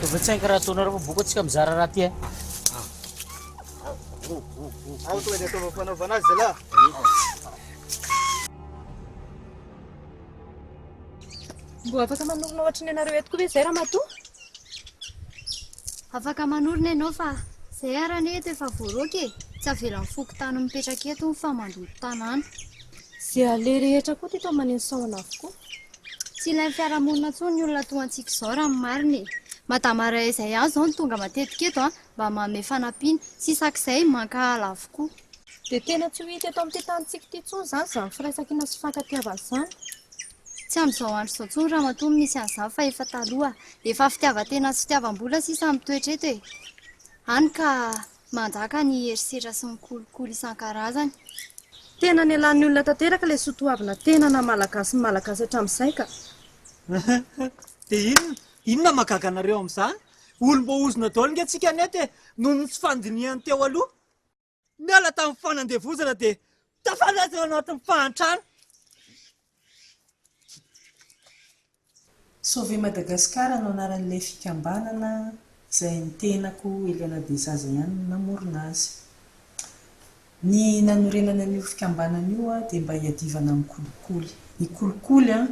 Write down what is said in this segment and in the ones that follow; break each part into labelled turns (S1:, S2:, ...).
S1: Tobetsainka raha ataonareo fa boko tsika mizara raha ty eh.
S2: Ao toy ny ataovao fanaovana azy zalahy.
S3: Mbola afaka manorina ohatry ny anareo eto koa ve izay ramatoa?
S4: Afaka manorina ianao fa izay ara anie eto efa voaroaka e. Tsy avelan'ny fokontany mipetraka eto hono fa mandoto tanàna. Izay
S3: aleha rehetra koa teto aman'iny sahona avokoa. Tsy ilain'ny
S4: fiarahamonina intsony ny olona toa antsika izao raha ny marina e. Madama iray izay ihany izao no tonga matetika eto mba manome fanampiana. Tsy isak'izay mankahala avokoa. Dia tena tsy
S3: ho hita eto amin'ity tanintsika ity intsony izany izany firaisankina sy fifankatiavana izany. Tsy
S4: amin'izao andro izao intsony ramatoa no misy an'izany fa efa taloha. Efa fitiavan-tena sy fitiavam-bola sisa no mitoetra eto e. Hany ka. Manjaka ny herisetra sy ny kolikoly isan-karazany. Tena
S3: nialan'ny olona tanteraka ilay soatoavina tena naha malagasy ny malagasy hatramin'izay ka! Dia
S2: inona? Inona mahagaga anareo amin'izany? Olom-boahozona daholo ange tsika aneto e! Noho ny tsy fandinihany teo aloha. Niala tamin'ny fanandevozana dia tafalaza eo anatin'ny fahantrana.
S5: Sauver Madagascar no anaran'ilay fikambanana izay ny tenako Eliana Dezaza ihany no namorona azy. Ny nanorenana an'io fikambanana io dia mba hiadivana amin'ny kolikoly. Ny kolikoly an,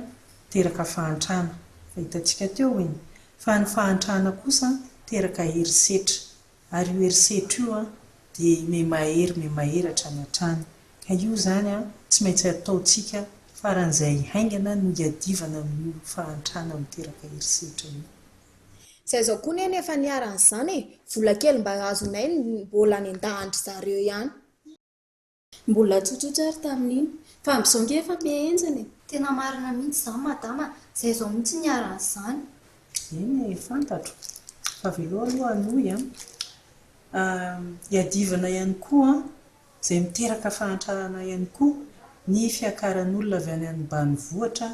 S5: teraka fahantrana, fa hitantsika teo iny, fa ny fahantrana kosa teraka herisetra, Ary io herisetra io an, dia me mahery me mahery hatrany hatrany. Ka io izany an, tsy maintsy ataontsika, faran'izay haingana no hiadivana amin'io fahantrana miteraka herisetra io. Zay zao
S6: koa neny efa niharan'izany e, vola kely mba azonay mbola nendahan-dry zareo ihany.
S3: Mbola tsotsotra ary tamin'iny. Fa amin'izao nge efa be henjana e! Tena marina mihitsy
S4: izany madama a! Izay izao mihitsy niharan'izany. Eny e,
S5: fantatro. Fa avelao aloha hanohy an! Iadivana ihany koa an! Izay miteraka fahantrana ihany koa ny fiakaran'olona avy any ambanivohitra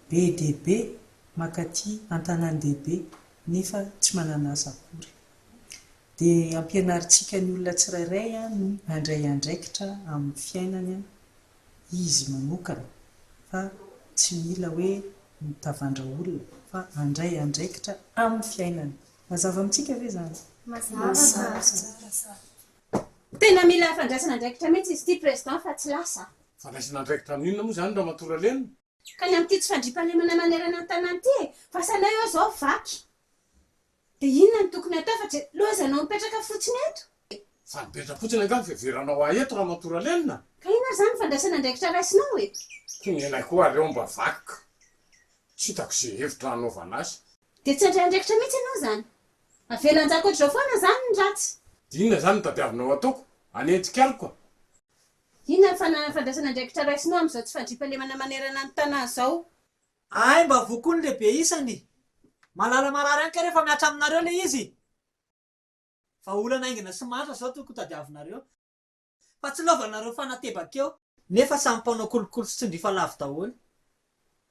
S5: be dia be mankaty an-tanàn-dehibe nefa tsy manana asa akory. dia ampianarintsika ny olona tsirairay ny handray andraikitra amin'ny fiainany izy manokana fa tsy mila hoe mitavandra olona fa handray andraikitra amin'ny fiainany. Mazava amintsika ve izany? Mazava tsara.
S7: Tena mila fandraisana andraikitra mihitsy izy ity Président fa tsy lasa. Fandraisana andraikitra
S8: amin'inona moa izany Ramatoa Ralema? Ka ny amin'ity tsy
S7: fandriampahalemana manerana ny tanàna ity e! Fasanay oa zao vaky! Dia inona no tokony hatao fa jelozy anao mipetraka fotsiny eto? Fa mipetra
S8: fotsiny angaha ny fiheveranao ahy eto ramatoa Ralenina? Ka inona ary izany ny fandraisana
S7: andraikitra raisinao e? Koa ny anay koa
S8: aleo mba vaky ka! Tsy hitako izay hevitra hanaovana azy. Dia tsy handray andraikitra
S7: mihitsy ianao izany? Avela hanjaka ohatr'izao foana izany ny ratsy? Dia inona izany no
S8: tadiavinao hataoko? Hanenjika ahy koa? Inona
S7: ny fananana fandraisana andraikitra raisinao amin'izao tsy fandriampahalemana manerana ny Tana izao? Ahay mba
S2: voa koa ny lehibe isany. Malala marary any ka rehefa mihatra aminareo ilay izy. Vahaolana haingana sy mahantra izao tokony tadiavinareo. Fa tsy lovanareo fanatebaka eo. Nefa samy mpanao kolikoly sy tsindrifa lavo daholo.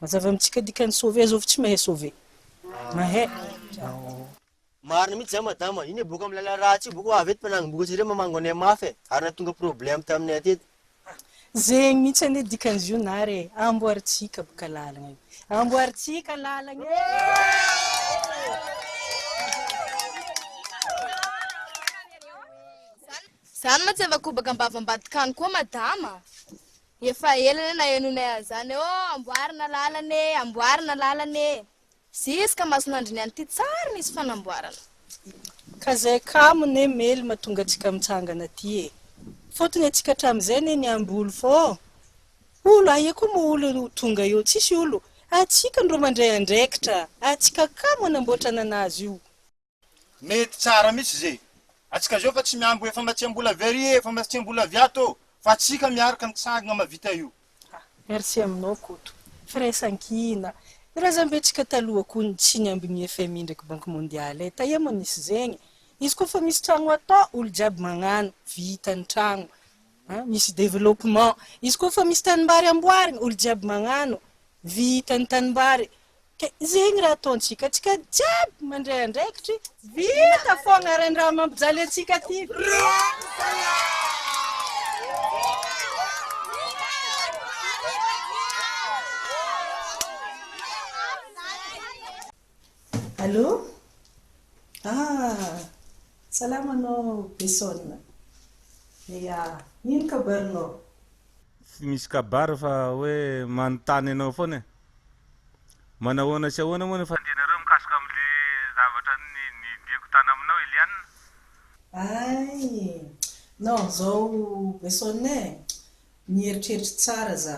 S5: Mazava
S3: amintsika dikan'ny sauver zao fa tsy mahay sauver. Mahay. Ao.
S9: Marina mihitsy zany madama, iny boka am lala ratsy io boka ho avy eto mpanango boka tsireo mamango anay mafy e, ary nahatonga problème taminay atety. Zegny
S3: mihitsy anie dikan'izy io nary e, amboarintsika boka lalagna io. Amboarintsika lalagna e!
S10: Zany mantsy efa kobaka am-bava ambadik'any koa madama. Efa ela le nahenonay an'izany ô amboarina lalana e amboarina lalana e ziska masonandriny any ty tsary nisy fanamboarana. Ka
S3: zay kamo ne mely matonga atsika mitsangana ty e fotony atsika atramizay ne miambolo fô olo aia ko mo olo ho tonga eo tsisy olo atsika ndro mandray andraikitra atsika kamo anamboatra nanazy io Mety
S11: tsara mitsy ze atsika zao fa tsy miambo efa matsiambola very e efa matsiambola avy ato ô fa atsika miarka mitsangana mavita io. Ah merci aminao
S3: Koto firaisankina Ny razambetsika taloha koa ny tsy niambin'ny FMI ndraiky banque mondiale e taia moa nisy zegny izy koa fa misy tragno atao olo jiaby magnano vita ny tragno An, misy développement. Izy koa fa misy tanimbary amboarina, olo jiaby magnano. Vita ny tanimbary. Ka zegny raha ataontsika. Antsika jiaby mandray andraikitry. Vita fogna regny raha mampijaly antsika ty.
S5: Allô? Ah! Salama anao Besson? Ia, ino kabarinao? Tsy misy
S12: kabary fa hoe manontany anao foana e! Manahoana sy ahoana moa ny fandrianareo mikasika amin'ilay zavatra nodiako tany aminao Eliane? Ay!
S5: Non, zao Besson e! Mieritreritra tsara za.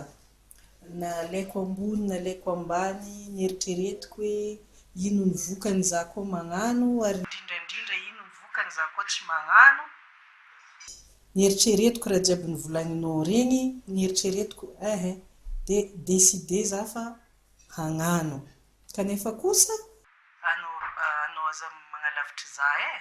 S5: Nalaiko ambony nalaiko ambany neritreretiko hoe ino ny vokany izaho koa magnano ary indrindra indrindra ino ny vokany izaho koa tsy magnano. Neritreretiko raha jiaby novolagninao regny neritreretiko eeh de décider izaho fa hagnano kanefa kosa. Anao anao aza magnalavitry izaho eh.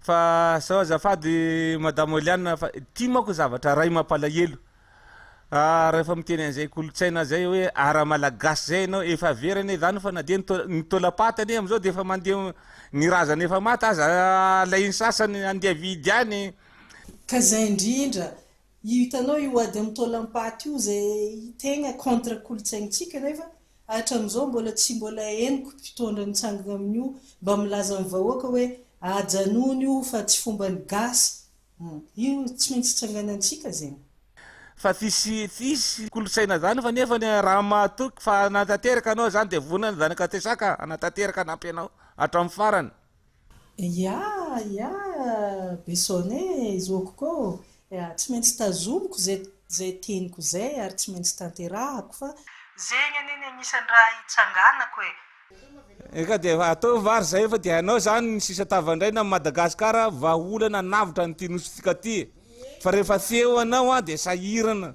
S12: Fa zao azafady madame Oliana fa ity manko zavatra ray mampalahelo ah rehefa miteny an'izay kolotsaina zay hoe ara malagasy zay ianao efa very anie zany fa na dia ny taolapaty anie amizao dia efa mandeha ny razana efa maty aza alainy sasany andeha vidy any Ka zay
S5: indrindra Io hitanao io ady amin'ny taolam-paty io izay tegna contre kolontsaintsika nefa hatramizao mbola tsy mbola henoko mpitondra mitsangana amin'io mba milaza amin'ny vahoaka hoe ajanony io fa tsy fomban'ny gasy hum io tsy maintsy tsanganantsika zegny. Fa tsisy
S12: tsisy kolotsaina zany fa nefa ny raha mahatoky fa hanatanteraka anao zany de vonona ny zanak'Antesaka hanatanteraka hanampy anao hatramin'ny farany. Ya!
S5: Ya! Besone, zoki'ko ô! Ya! Tsy maintsy tazomiko izay teniko izay ary tsy maintsy tanterahako fa. Zegny anie ny agnisan'ny raha hitsanganako e!
S12: Eka dia efa ataovy vary izay efa dia hainao izany ny sisa tavandraina amin'i Madagasikara vahaolana hanavotra an'ity Nosy tika ity e! Fa rehefa tsy eo ianao an dia sahirana.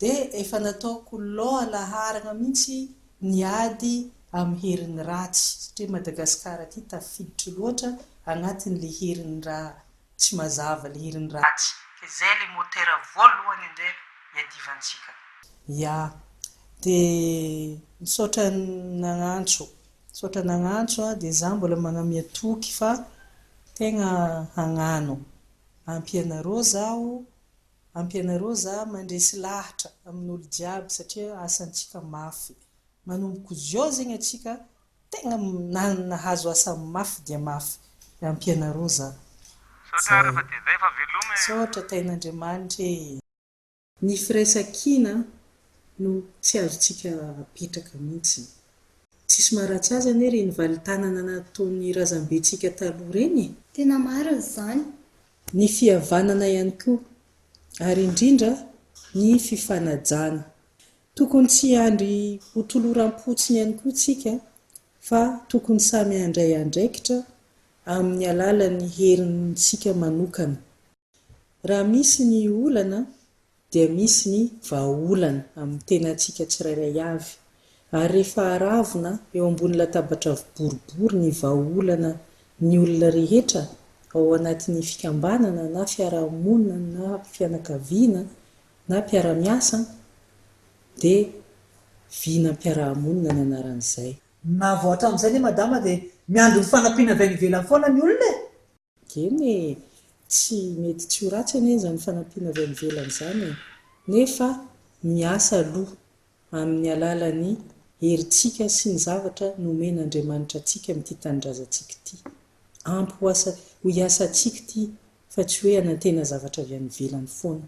S5: dia efa nataoko law laharagna mihitsy ny ady amin'ny herin'ny ratsy satria Madagascar aty tafiditra loatra agnatin'ilay herin'ny ra tsy mazava ilay herin'ny ratsy dia zay ilay motera voalohany indray iadivantsika. Ya. Dia misaotra nagnantso. Misaotra nagnantso a, dia za mbola magnamia toky fa tegna hagnano. Ampy anareo zaho Ampianareo za mandresy lahatra amin'olo jiaby satria asantsika mafy. Manomboko zio zegny atsika tegna nahazo asa mafy dia mafy. Dia ampianareo za. Zay. Misaotra tahin'Andriamanitra ee. Ny firaisankina no tsy azontsika apetraka mintsy. Tsisy maharatsy azy anie reny valintanana nataon'ny razambentsika taloha reny e. Tena marina
S4: izany. Ny
S5: fihavanana ihany koa, ary indrindra ny fifanajana. Tokony tsy hiandry ho toloram-potsiny ihany koa isika fa tokony samy handray andraikitra amin'ny alalan'ny herintsika manokana. Raha misy ny olana dia misy ny vahaolana amin'ny tenantsika tsirairay avy, ary rehefa aravona eo ambony latabatra boribory ny vahaolana ny olona rehetra ao anatin'ny fikambanana na fiarahamonina na fianakaviana na mpiara-miasa dia vinam-piarahamonina ny anaran'izay. Navoatra
S2: amin'izay anie Madama dia miandry ny fanampiana avy any ivelany foana ny olona e! Eny e!
S5: Tsy mety tsy ho ratsy anie izany fanampiana avy any ivelany izany e! Nefa miasa aloha amin'ny alalan'ny herintsika sy ny zavatra nomen'Andriamanitra antsika amin'ity tanindrazantsika ity. Ampy ho asa, ho iasantsika ity fa tsy hoe hanantena zavatra avy any ivelany foana.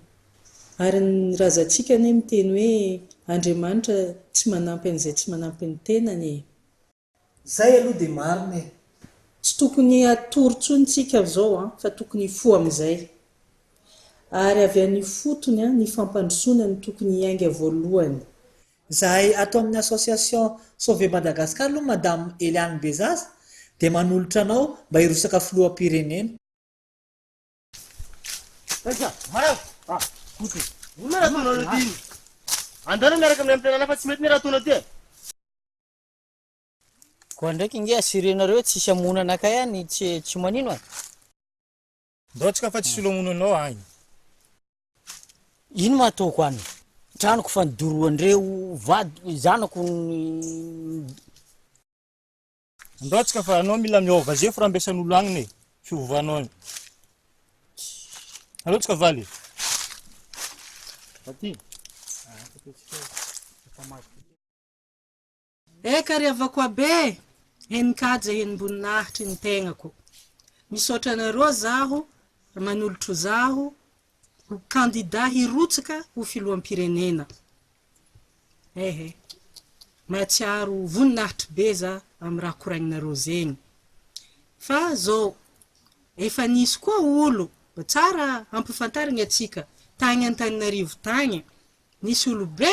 S5: Ary ny razantsika anie miteny hoe Andriamanitra tsy manampy an'izay tsy manampy ny tenany e!
S2: Zay aloha dia marina e! Tsy tokony
S5: hatory tsony tsika zao an, fa tokony hifoha amizay. Ary avy any ifotony an, ny fampandrosoana no tokony hiainga voalohany. Zahay
S2: ato amin'ny association Sauver Madagascar aloha Madame Eliane Bezaza dia manolotra anao mba hirosaka filoham-pirenena. Andehanao miaraka
S9: amin'ny antenana fa tsy mety ny raha ataonao ty e!
S1: Koa ndraiky nge asirenareo tsisy hamono anakay ahy ny tsy tsy manino e.
S11: Ndao tsika fa tsisy olo hamono anao ahy.
S1: Ino mahataoko any tranoko fa nidorohandreo vadiko zanako ny.
S11: Ndao tsika fa anao mila miova zefo raha ambesan'olo agnina e fiovanao any. Aleo tsika valy e. Aty.
S3: Eka ry havako abe e! Henin-kaja henim-boninahitry ny tegnako. Misaotra anareo zaho ry manolotro zaho ho kandida hirotsaka ho filoham-pirenena. Ehe. Mahatsiaro voninahitry be za amin'ny raha koragninareo zegny. Fa zao, efa nisy koa olo, tsara ampifantarigna antsika, tagny Antananarivo tagny, nisy olo be,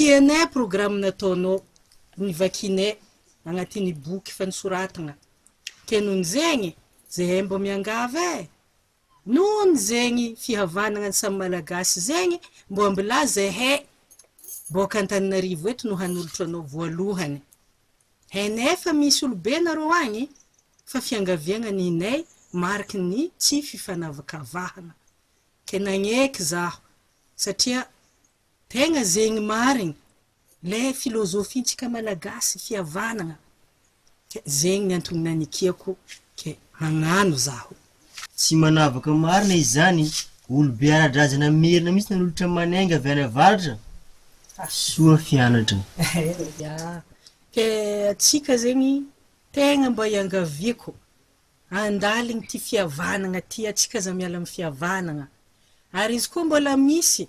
S3: Tianay programa nataonao, ny vakinay agnatiny boky fa nisoratagna, ke nony zegny zahay mbô miangavy eh! nony zegny fihavanagna ny samy malagasy zegny mbô ambilà zahay bôka Antananarivo eto no hanolotra anao voalohany, hainay fa misy olobe nareo agny fa fiangaviagna ninay mariky ny tsy fifanavakavahagna, ke nagneky zaho satria Tegna zegny marigny le filozofintsika malagasy fihavanagna ke zegny antony nanikiako ke hagnano zaho. Tsy manavaka
S9: marina izy zany, olo be ara-drazana merina mihitsy nanolotra manenga avy any avaratra, soa fianatra. Ya,
S3: ke atsika zegny tegna mba iangaviako andaligny ty fihavanagna ty atsika aza miala am fihavanagna ary izy koa mbola misy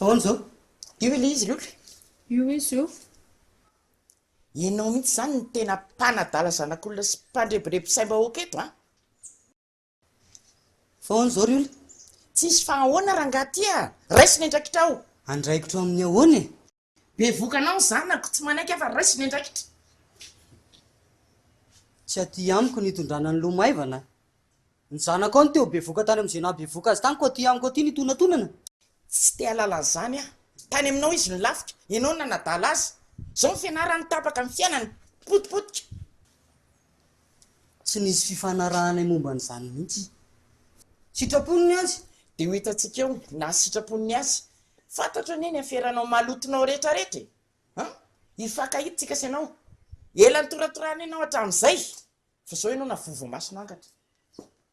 S13: ahoana izao? Io ilay izy Lolo e. Io izy io. Ianao mihitsy izany no tena mpanadala zanak'olona sy mpandrebireby saim-bahoaka eto an! Foana zao ry ola. Tsisy fa ahoana rangah ty ah! Raiso ny andraikitrao! Andraikitro amin'ny ahoana
S1: e? Bevoka
S13: anao ny zanako, tsy manaiky aho fa raiso ny andraikitra.
S1: Tsy aty amiko ny hitondrana ny loha maivana. Ny zanako ao no te ho bevoka tany amin'izay nahabevoka azy tany koa aty amiko aty ny hitonantonana. Tsy te
S13: hahalala an'izany aho. Tany aminao izy no lafika, ianao no nanadala azy. Izao ny fianarany tapaka ny fiainany. Potipotika.
S1: tsy nisy fifanarahanay momba an'izany mihitsy. Sitrapony ny azy dia ho hitantsika eo
S13: na sitrapony ny azy. Fantatro anie ny aferanao malotonao rehetra rehetra e! An! Hifankahita tsika sy ianao. Ela nitoratorana ianao hatramin'izay fa izao ianao na voa voamasina angatra.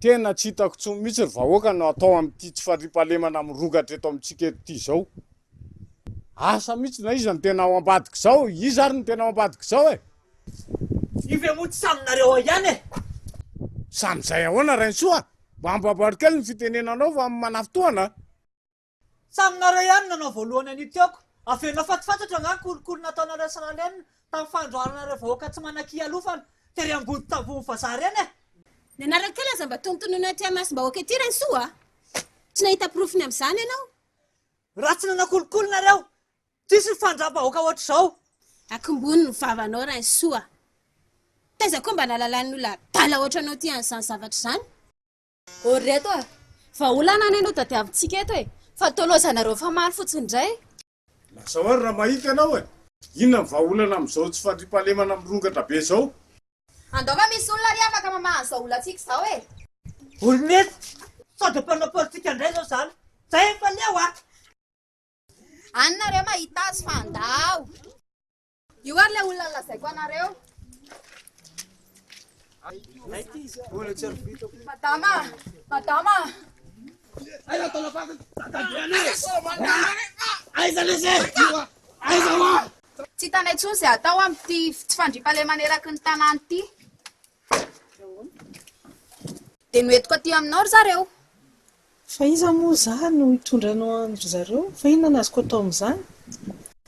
S8: Tena tsy hitako intsony mihitsy ry vahoaka no atao amin'ity tsy fandriampahalemana mirongatra eto amintsika eto ity izao. Asa mihitsy na iza no tena ao ambadik'izao, iza ary no tena ao ambadik'izao e? Io ve
S2: moa tsy samy nareo ao ihany e? Samy
S8: izay ahoana Rainisoa? Mba amboaboaro kely ny fitenenanao fa manafitohana a! Tsy
S2: aminareo ihany no nanao voalohany an'io tiako averinao fatifatatra angaha ny kolikoly nataonareo sy Ralena tamin'ny fandroharana ireo vahoaka tsy manankia alofana tery Amboditambohon'i vazaha ireny e! Ny anarany kely
S7: aza mba tonontononina aty imasom-bahoaka ity Rainisoa a! Tsy nahita porofony amin'izany ianao. Raha tsy
S2: nanao kolikoly nareo, tsisy ny fandram-bahoaka ohatr'izao. Akombony ny
S7: vavanao Rainisoa. Taiza koa mba nahalalany olona adala ohatranao ity an'izany zavatra izany. Ô ry
S14: reto a! Vahaolana anie no tadiavintsika eto e! Fa tolozanareo famaly fotsiny indray e! Lazao
S8: ary raha mahita ianao e! Inona no vahaolana amin'izao tsy fandriampahalemana mirongatra be izao? Andao fa
S14: misy olona ary afaka mamaha an'izao olantsika izao e! Ô ry reto!
S2: Sao dia mpanao politika indray izao izany? Zay efa leo a!
S14: Any nareo mahita azy fa andao! Io ary ilay olona lazaiko anareo. Madama, madama. Aiza tolafako Aiza lese Aiza wa Tsy hitanay intsony izay atao amin'ity tsy fandriampahalemana eraky ny tanàna ity. Dia noentiko aty aminao ry zareo. Fa
S3: iza moa izaho no hitondra anao an-dry zareo? Fa inona no azoko atao amin'izany?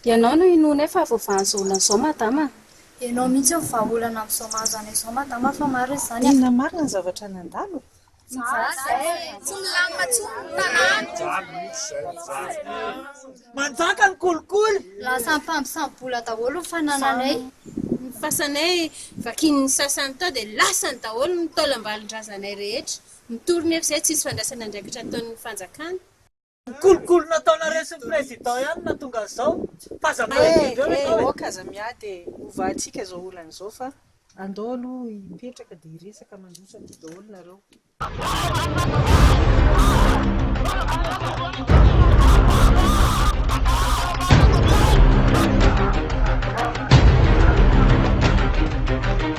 S3: Ianao
S14: no inoanay fa avoavaha an'izao olana izao madama an! Ianao mihitsy no
S4: vahaolana amin'izao mahazo anay izao madama fa maro izy izany an! Inona marina ny zavatra
S3: nandalo e?
S2: Manjaka ny kolikoly. Lasa mpampisambola
S4: daholo ny fanananay. Ny
S7: fasanay vakin'ny sasany tao dia lasany daholo ny taolam-balin-drazanay rehetra. Mitory nefa izay tsisy fandraisana andraikitra ataon'ny fanjakana. Kolokolo
S2: nataonareo sy ny président ihany no nahatonga an'izao fa aza miady indreo ve zao e. Ok aza
S3: miady e, hovahantsika izao olana izao fa andao aloha hipetraka dia hiresaka mandroso aty daholo nareo.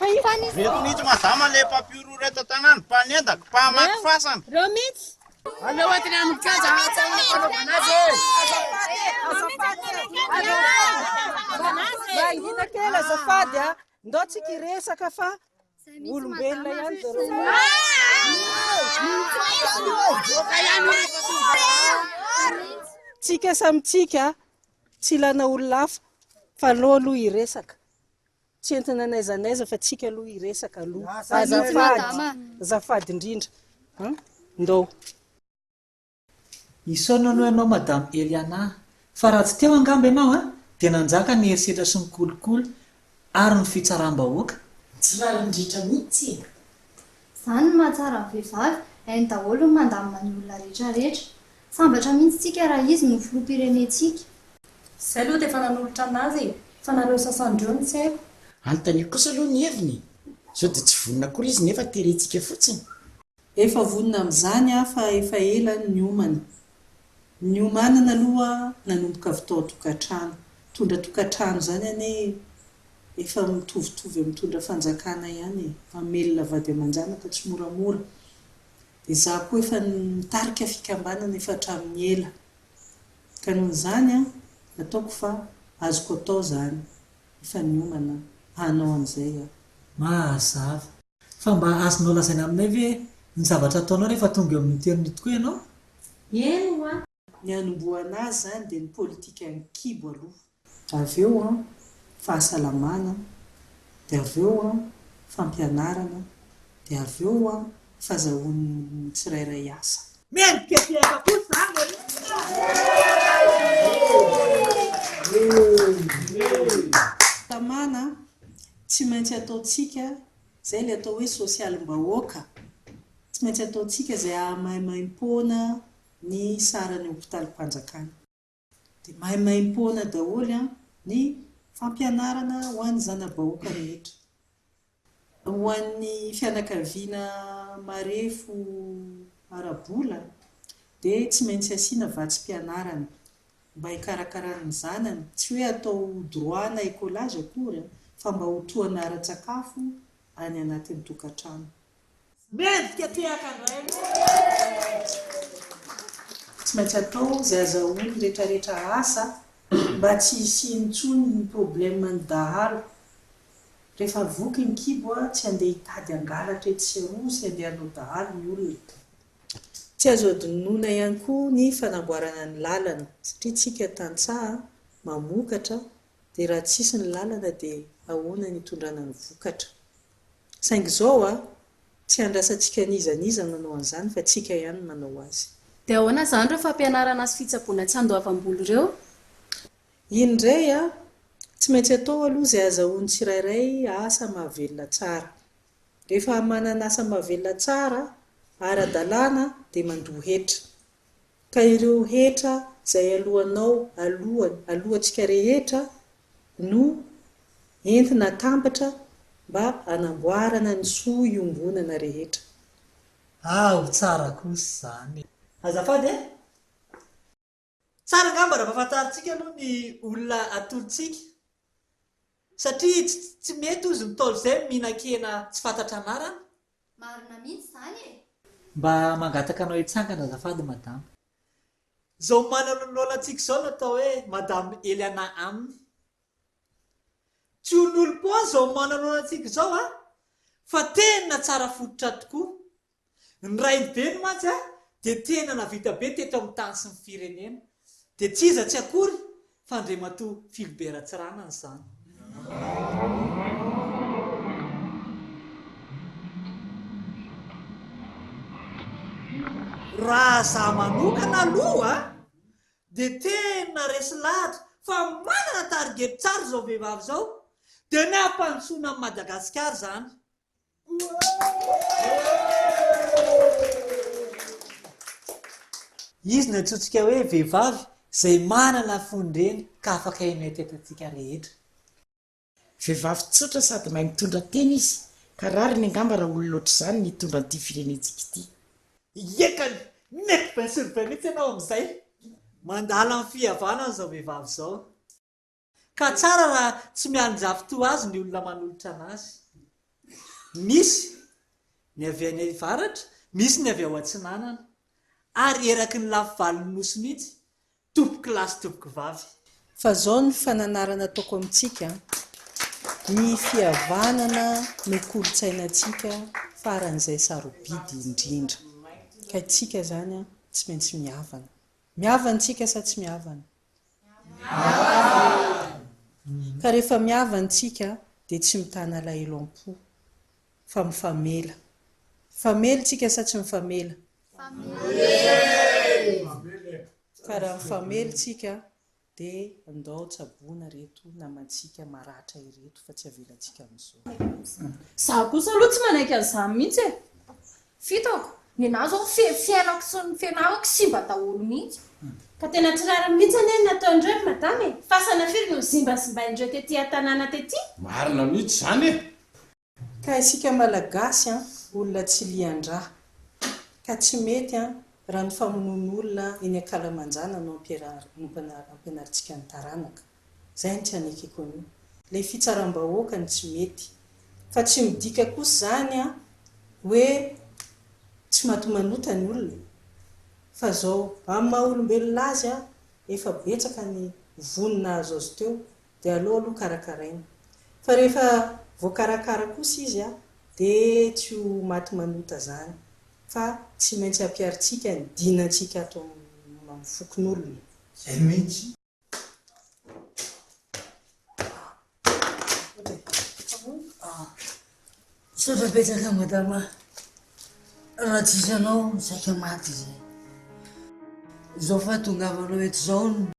S11: Ireto mihitsy mazama le mpampihorohoro eto an-tanàna, mpanendaka, mpahamaky fasana. Ireo mihitsy.
S7: Aleo atiny
S13: aminy kajy ahatsy aminy fanaovana azy e! Azafady e! Mangina kely
S3: azafady a! Ndao tsika hiresaka fa olombelona ihany zareo. Tsika samy tsika tsy ilana olona hafa fa aleo aloha hiresaka. Tsy entina n'aiza n'aiza fa tsika aloha hiresaka aloha. Azafady, azafady indrindra an! Ndao.
S2: Isaorana aloha ianao Madame Eliana a! Fa raha tsy teo angamba ianao a! Dia nanjaka ny herisetra sy ny kolikoly ary ny fitsaram-bahoaka. Tsy rariny
S13: ritra mitsy e! Zany
S4: ny mahatsara ny vehivavy, hainy daholo ny mandamina ny olona rehetra rehetra. Sambatra mihintsy tsika raha izy no filoha pirenentsika. Zay
S3: aloha dia efa nanolotra anazy e! Fa nareo sasany reo no tsy haiko. Anontanio kosa aloha
S13: ny heviny e! Zao dia tsy vonona akory izy nefa terentsika fotsiny. Efa
S5: vonona amin'izany aho fa efa ela ny niomana. Niomanana aloha nanomboka avy tao an-tokantrano. Mitondra tokantrano izany anie efa mitovitovy amin'ny mitondra fanjakana ihany e. Mamelona vady aman-janaka tsy moramora. Dia izaho koa efa nitarika fikambanana efa hatramin'ny ela. Ka noho izany, ataoko fa azoko atao izany. Efa niomana hanao an'izay aho. Mazava.
S2: Fa mba azonao lazaina aminay ve ny zavatra ataonao rehefa tonga eo amin'ny hotely-n'ny tokoa ianao? Eny hoa!
S3: Ny
S5: hanombohana azy izany dia ny politika an-kibo aloha. Avy eo an, fahasalamana, dia avy eo an, fampianarana, dia avy eo an, fazahoan'ny tsirairay asa. Mendrika fihaika
S2: koa izany e!
S5: Tamana, Tsy maintsy ataontsika izay ilay atao hoe sosialim-bahoaka, tsy maintsy ataontsika izay hahamaimaimpoana ny saran'ny hopitalim-panjakana. Dia maimaimpoana daholo ny fampianarana ho an'ny zana-bahoaka rehetra, ho an'ny fianakaviana marefo ara-bola dia tsy maintsy asiana vatsim-pianarana mba hikarakarana ny zanany, tsy hoe atao ho droit na écolage akory fa mba ho tohana ara-tsakafo any anatin'ny tokantrano. Mendrika
S2: tehaka ny ray aman-dreny.
S5: Tsy maintsy atao izay azahoan'ny retraretra asa mba tsy hisiany intsony ny problème ny dahalo. Rehefa voky ny kibo tsy handeha hitady hangalatra etsy sy eroa sy handeha hanao dahalo ny olona. Tsy azo adinoina ihany koa ny fanamboarana ny lalana satria tsika tantsaha mamokatra dia raha tsisy ny lalana dia ahoana ny hitondrana ny vokatra. Saingy izao a! tsy handrasantsika n'iza n'iza nanao an'izany fa tsika ihany no manao azy. Dia ahoana izany ireo
S7: fampianarana sy fitsaboana tsy handoavam-bola ireo?
S5: Iny indray a! tsy maintsy atao aloha izay azahoan'ny tsirairay asa mahavelona tsara. Rehefa manana asa mahavelona tsara ara-dalàna dia mandoa hetra. Ka ireo hetra izay alohanao alohan alohantsika rehetra no entina atambatra mba hanamboarana ny soa iombonana rehetra. Ao
S2: tsara kosa izany e! Azafady e! Tsara angamba raha ampahafantarintsika aloha ny olona atolontsika satria tsy mety hozy ny ntaolo izay mihinan-kena tsy fantatra anarana. Marina mihitsy
S4: izany e! Mba
S2: mangataka anao hitsangana azafady madama. Izao manalolaolantsika izao no atao hoe madame Eliana aminy. Tsy olon'olom-poana izao manalolaolantsika izao an! Fa tena tsara fototra tokoa. Ny raibeny mantsy a dia tena navita be teto amin'ny tany sy ny firenena dia tsy iza tsy akory fa Andriamatoa Philbert Ratsiranana izany. Raha za manokana aloha dia tena resy lahatra fa manana target tsara izao vehivavy izao dia ny hampandrosoana an'i Madagasikara izany. Izy no antsointsika hoe vehivavy izay manana fon'ireny ka afaka haneho tetantsika rehetra.
S13: Vehivavy tsotra sady mahay mitondra tena izy ka rariny angamba raha olona ohatr'izany no hitondra an'ity firenentsika ity. Ekany!
S2: Mety bain sur bain mihitsy ianao amin'izay! Mandala ny fihavanana izao vehivavy izao. Ka tsara raha tsy mialinjafy toa azy ny olona manolotra anazy. Misy ny avy any avaratra, misy ny avy ao atsinanana, ary eraky ny lafy valon'ny nosy mihitsy, tompok'i lahy sy tompok'i vavy. Fa zao ny
S5: fananarana ataoko amintsika an! Ny fihavanana no kolontsainantsika faran'izay sarobidy indrindra. Ka tsika zany an, tsy maintsy mihavana. Mihavana tsika sa tsy mihavana? Ka rehefa miava ny tsika dia tsy mitana alahelo am-po fa mifamela. Mifamely tsika sa tsy mifamela? Ka raha mifamely tsika dia ndao tsaboina reto namantsika maratra ireto fa tsy avelantsika amin'izao. Za kosa aloha
S14: tsy manaiky an'izany mihitsy e! Fitako, ny anah zao feno fiainako sy ny fianarako simba daholo mihitsy. Ka tena tsy
S7: rariny mihitsy anie ny nataon'ireo ry madama e! Fasana firy no nozimbazimbainin'ireo tety an-tanàna tety? Marina mihitsy
S8: izany e! Ka isika
S5: Malagasy an, olona tsy lian-dra. Ka tsy mety an, raha ny famonoan'olona eny an-kalamanjana no ampianarintsika ny taranaka. Zay ny tranekeko an'io. Ilay fitsaram-bahoaka no tsy mety. Fa tsy midika kosa izany an, hoe tsy matomanota ny olona. Fa zao, amin'ny maha olombelona azy an, efa betsaka ny vono nahazo azy teo, dia aleo aloha karakaraina. Fa rehefa voakarakara kosa izy an, dia tsy ho maty manota zany. Fa tsy maintsy ampiarintsika ny dinantsika ato amin'ny fokonolona. Zay mihitsy.
S1: Misaotra betsaka madama raha tsisy anao saika maty zay. Zao fahatongavanao eto zao no.